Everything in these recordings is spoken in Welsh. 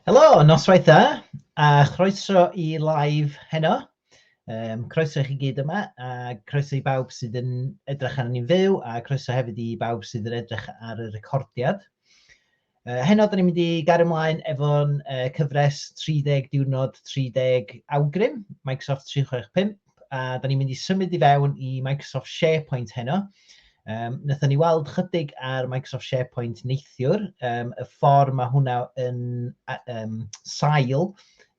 Helo, noswaith dda, a chroeso i live heno. Um, croeso i chi gyd yma, a croeso i bawb sydd yn edrych arnyn ni'n fyw, a croeso hefyd i bawb sydd yn edrych ar y recordiad. Uh, heno, da ni'n mynd i gario ymlaen efo'n uh, cyfres 30 diwrnod, 30 awgrym, Microsoft 365. a da ni'n mynd i symud i fewn i Microsoft SharePoint heno. Um, Nethon ni weld chydig ar Microsoft SharePoint neithiwr, um, y ffordd mae hwnna yn um, sail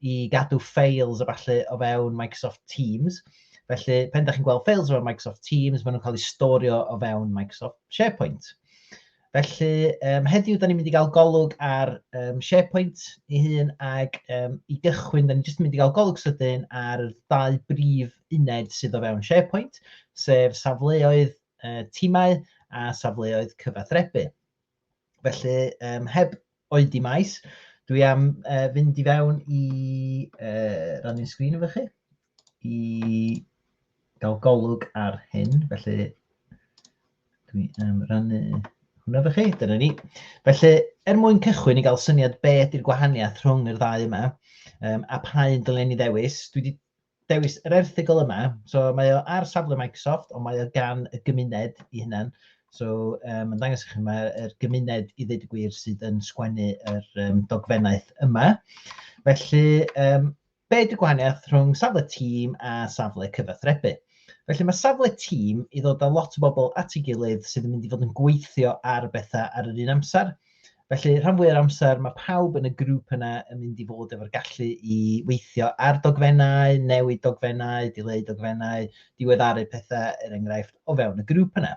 i gadw files a falle o fewn Microsoft Teams. Felly, pen da chi'n gweld files o fewn Microsoft Teams, maen nhw'n cael eu storio o fewn Microsoft SharePoint. Felly, um, heddiw, da ni'n mynd i gael golwg ar um, SharePoint ei hun, ac um, i gychwyn, da ni'n just mynd i gael golwg sydyn ar dau brif uned sydd o fewn SharePoint, sef safleoedd uh, timau a safleoedd cyfathrebu. Felly, um, heb Oedi maes. Dwi am uh, fynd i fewn i uh, rannu'n sgrin efo chi i gael golwg ar hyn. Felly, dwi am rannu hwnna efo chi. Dyna ni. Felly, er mwyn cychwyn i gael syniad be ydy'r gwahaniaeth rhwng yr ddau yma um, a pa un dylen ni ddewis, dwi wedi dewis yr erthygl yma. So mae o ar safle Microsoft, ond mae o gan y gymuned i hunan. So um, mae'n dangos i chi yma yr gymuned i ddweud y gwir sydd yn sgwennu yr um, dogfennaeth yma. Felly, um, be ydy gwahaniaeth rhwng safle tîm a safle cyfathrebu? Felly mae safle tîm i ddod â lot o bobl at ei gilydd sydd yn mynd i fod yn gweithio ar bethau ar yr un amser. Felly, rhan fwy o'r amser, mae pawb yn y grŵp yna yn mynd i fod efo'r gallu i weithio ar dogfennau, newid dogfennau, dileu dogfennau, diweddaru pethau, er enghraifft, o fewn y grŵp yna.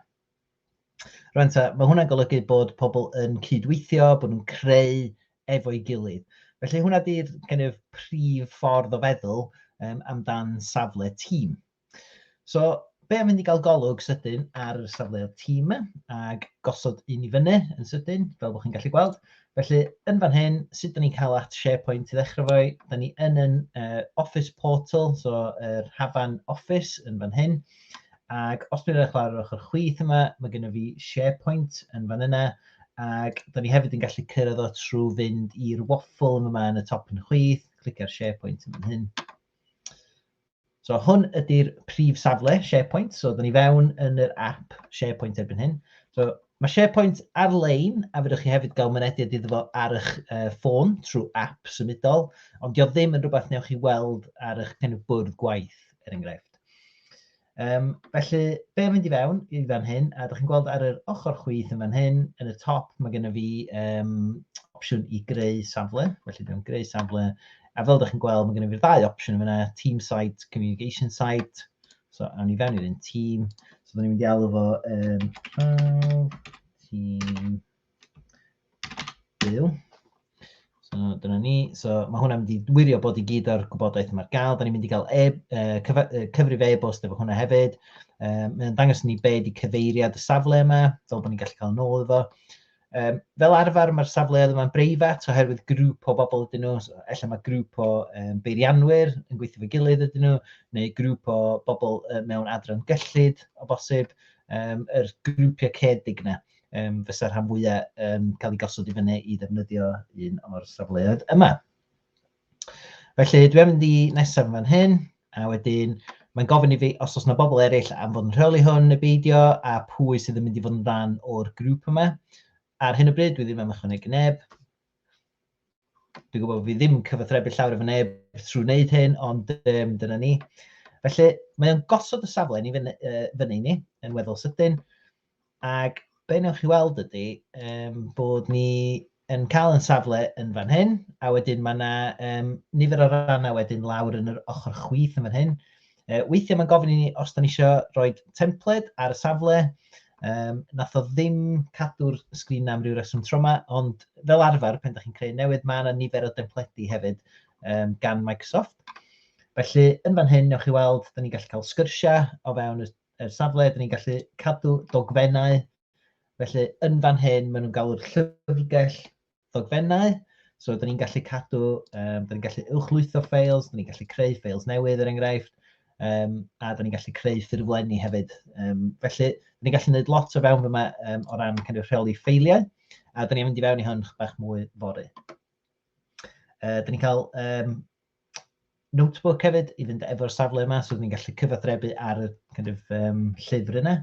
Rwy'n ta, mae hwnna'n golygu bod pobl yn cydweithio, bod nhw'n creu efo'i gilydd. Felly hwnna di'r kind of, prif ffordd o feddwl um, amdan safle tîm. So, be am fynd i gael golwg sydyn ar safleoedd tîm ac gosod un i fyny yn sydyn, fel bod chi'n gallu gweld. Felly, yn fan hyn, sut da ni'n cael at SharePoint i ddechrau fo, da ni yn yn uh, Office Portal, so yr uh, hafan Office yn fan hyn. Ac os dwi'n eich lawr ochr chwith yma, mae gennym fi SharePoint yn fan yna, ac da ni hefyd yn gallu cyrraedd o trwy fynd i'r waffle yma yn y top yn chwith, clicio'r SharePoint yn fan hyn. So hwn ydy'r prif safle SharePoint. So, dyn ni fewn yn yr app SharePoint erbyn hyn. So, mae SharePoint ar-lein, a fydwch chi hefyd gael mynediad iddo fo ar eich uh, ffôn trwy app symudol, ond dio ddim yn rhywbeth newch chi weld ar eich kind of bwrdd gwaith, er enghraifft. Um, felly, be mynd i fewn i fan hyn, a ydych chi'n gweld ar yr ochr chwith yn fan hyn, yn y top, mae gennym fi um, opsiwn i greu safle, felly dwi'n greu safle, A fel ydych chi'n gweld, mae gennym ni'r ddau opsiwn yn fyna, team site, communication site. So, awn ni fewn i'r un team. So, da ni'n mynd i alw fo um, prawf, team, byw. So, dyna ni. So, mae hwnna'n mynd i wirio bod i gyd o'r gwybodaeth yma'r gael. Da ni'n mynd i gael e, uh, cyf, uh, cyfrif e-bost efo hwnna hefyd. Um, mae'n dangos ni be di cyfeiriad y safle yma, fel bod ni'n gallu cael nôl efo. Um, fel arfer mae'r safleoedd yma'n breifat oherwydd grŵp o bobl ydyn nhw, so, efallai mae grŵp o um, beirianwyr yn gweithio fe gilydd ydyn nhw, neu grŵp o bobl uh, mewn adran gyllid o bosib, um, yr grwpiau cedig yna um, fysa rhan fwyaf um, cael ei gosod i fyny i ddefnyddio un o'r safleoedd yma. Felly, dwi'n mynd i nesaf yn fan hyn, a wedyn mae'n gofyn i fi os oes yna bobl eraill am fod yn rheoli hwn neu beidio, a pwy sydd yn mynd i fod yn rhan o'r grŵp yma. Ar hyn o bryd, dwi ddim am ychwanegu neb. Dwi'n gwybod bod fi ddim yn cyfathrebu llawer efo neb trwy wneud hyn, ond um, dyna ni. Felly, mae'n gosod y safle ni fyny, uh, fyny ni yn weddol sydyn. Ac be wnewch chi weld ydy um, bod ni yn cael yn safle yn fan hyn, a wedyn mae yna um, nifer o rannau wedyn lawr yn yr ochr chwith yn fan hyn. Uh, weithiau mae'n gofyn i ni os da ni eisiau rhoi templed ar y safle, um, nath o ddim cadw'r sgrin am ryw reswm tro yma, ond fel arfer, pen da chi'n creu newydd, mae yna nifer o dempledi hefyd um, gan Microsoft. Felly, yn fan hyn, newch chi weld, da ni'n gallu cael sgyrsiau o fewn y er safle, dyn ni'n gallu cadw dogfennau. Felly, yn fan hyn, maen nhw'n galw'r llyfrgell ddogfennau. So, dyn ni'n gallu cadw, um, dyn ni'n gallu uwchlwytho ffeils, dyn ni'n gallu creu ffeils newydd, er enghraifft, um, a dyn ni'n gallu creu ffurflenni hefyd. Um, felly, dyn ni'n gallu gwneud lot o fewn fyma um, o ran kind of, rheoli ffeiliau, a dyn ni'n mynd i fewn i hwn bach mwy fori. Uh, dyn ni'n cael um, notebook hefyd i fynd efo'r safle yma, so ni'n gallu cyfathrebu ar y kind of, um, llyfr yna.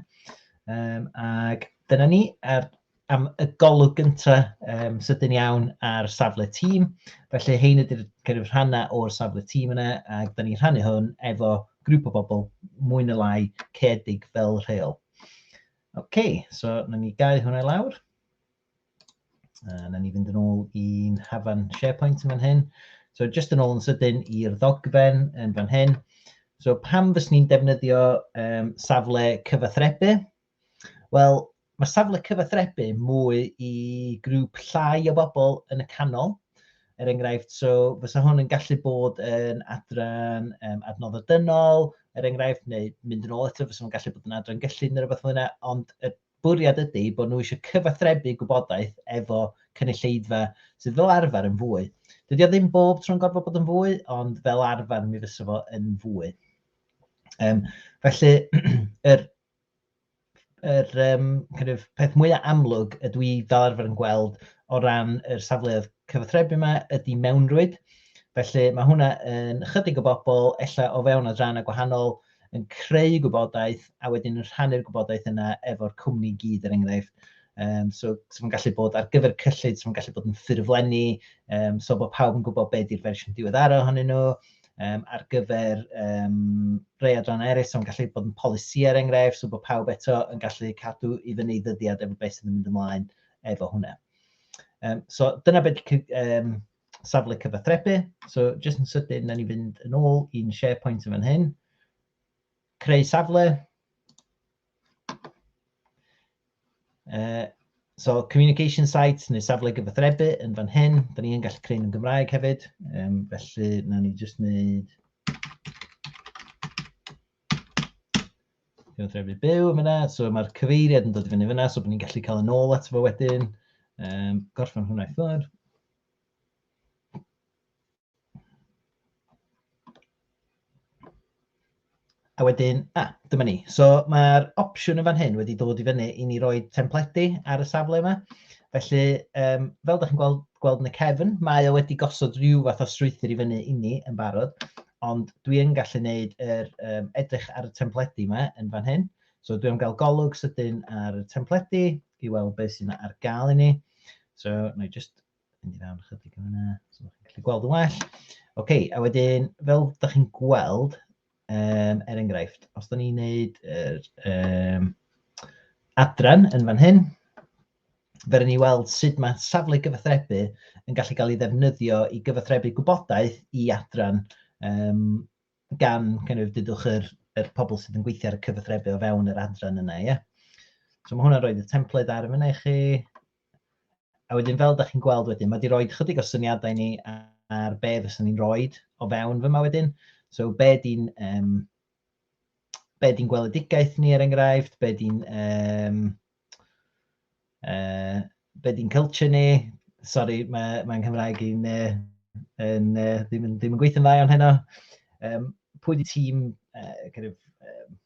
Um, ac dyna ni, ar, am y golwg gyntaf um, sydyn iawn ar safle tîm. Felly hein ydy'r kind of, rhannau o'r safle tîm yna, ac da ni'n rhannu hwn efo grŵp o bobl mwy na lai cedig fel rheol. OK, so na ni gau hwnna lawr. A na ni fynd yn ôl i'n hafan SharePoint yn fan hyn. So just yn ôl yn sydyn i'r ddogfen yn fan hyn. So pam fys ni'n defnyddio um, safle cyfathrebu? Wel, mae safle cyfathrebu mwy i grŵp llai o bobl yn y canol. Er enghraifft, so fysa hwn yn gallu bod yn adran um, adnodd o dynol, er enghraifft, neu mynd yn ôl eto, fysa hwn yn gallu bod yn adran gyllid neu rhywbeth fel yna, ond y bwriad ydy bod nhw eisiau cyfathrebu gwybodaeth efo cynulleidfa sydd fel arfer yn fwy. Dydy o ddim bob tro'n gorfod bod yn fwy, ond fel arfer mi fysa fo yn fwy. Um, felly, yr, yr um, kind of, peth mwyaf amlwg y dwi fel arfer yn gweld o ran yr safleoedd cyfathrebu yma ydy mewnrwyd. Felly mae hwnna yn ychydig o bobl, ella o fewn adrannau gwahanol, yn creu gwybodaeth a wedyn yn rhannu'r gwybodaeth yna efo'r cwmni i gyd er enghraifft. Um, so, so mae'n gallu bod ar gyfer cyllid, so mae'n gallu bod yn ffurflenni, um, so bod pawb yn gwybod beth yw'r fersiwn diweddara ohonyn nhw, um, ar gyfer um, rei adran eraill, so mae'n gallu bod yn polisi er enghraifft, so bod pawb eto yn gallu cadw i fyny ddyddiad efo beth sydd yn mynd ymlaen efo hwnna. Um, so dyna beth um, safle cyfathrebu. So jyst yn sydyn, na ni fynd yn ôl i'n SharePoint yn fan hyn. Creu safle. Uh, so communication site neu safle gyfathrebu yn fan hyn. Da ni yn gallu creu yn Gymraeg hefyd. Um, felly, na ni jyst wneud Cyfathrebu byw yn fyna, so mae'r cyfeiriad yn dod i fyny fyna, so bod ni'n gallu cael yn ôl ato fo wedyn. Um, gorffen hwnna i ffwrdd. A wedyn, a, ah, dyma ni. So mae'r opsiwn yn fan hyn wedi dod i fyny i ni roi templedi ar y safle yma. Felly, um, fel ydych chi'n gweld, gweld yn y cefn, mae o wedi gosod rhyw fath o strwythyr i fyny i ni yn barod. ond dwi yn gallu gwneud yr um, edrych ar y templedi yma yn fan hyn. So dwi'n cael golwg sydyn ar y templedi i weld beth sy'n ar gael i ni. So na i just mynd i fewn chydig yn yna, so chi'n gallu gweld yn well. Oce, okay, a wedyn fel da chi'n gweld, um, er enghraifft, os da ni'n neud yr um, adran yn fan hyn, Fe ry'n ni weld sut mae safle gyfathrebu yn gallu cael ei ddefnyddio i gyfathrebu gwybodaeth i adran um, gan kind of, dydwch yr, yr pobl sydd yn gweithio ar y cyfathrebu o fewn yr adran yna. Yeah? So mae hwnna'n rhoi y template ar yma i chi. A wedyn fel da chi'n gweld wedyn, mae wedi rhoi chydig o syniadau ni ar be fyswn ni'n rhoi o fewn fyma wedyn. So be di'n um, be di'n gweledigaeth ni er enghraifft, be di'n um, Uh, be di'n culture ni? Sorry, mae, mae Nghymraeg i'n uh, yn, uh, ddim, yn, ddim yn gweithio'n dda iawn heno. Um, pwy di tîm, uh, kind of, um,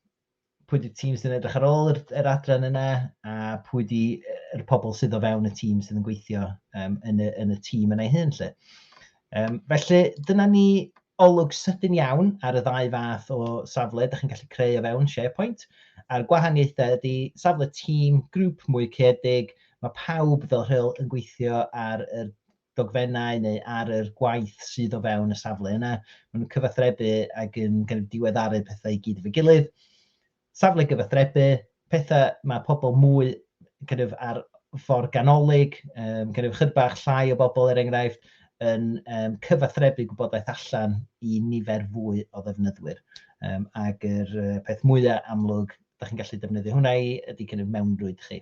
pwy di tîm sy'n edrych ar ôl yr, yr adran yna, a pwy di yr pobl sydd o fewn y tîm sydd yn gweithio um, yn, y, yn y tîm yna ei hun, lle. Um, felly, dyna ni olwg sydyn iawn ar y ddau fath o safle ydych chi'n gallu creu o fewn SharePoint. A'r gwahaniaethau ydy safle tîm, grŵp mwy cedig, mae pawb fel rheol yn gweithio ar y dogfennau neu ar yr gwaith sydd o fewn y safle yna. Maen nhw'n cyfathrebu ac yn kind of diweddaru pethau i gyd efo'i gilydd. safle gyfathrebu, pethau mae pobl mwy kind of, ar ffordd ganolig, um, kind of, chydbach llai o bobl er enghraifft, yn um, cyfathrebu gwybodaeth allan i nifer fwy o ddefnyddwyr. Um, ac yr uh, peth mwyaf amlwg, da chi'n gallu defnyddio hwnna i, ydy kind of mewnrwyd chi.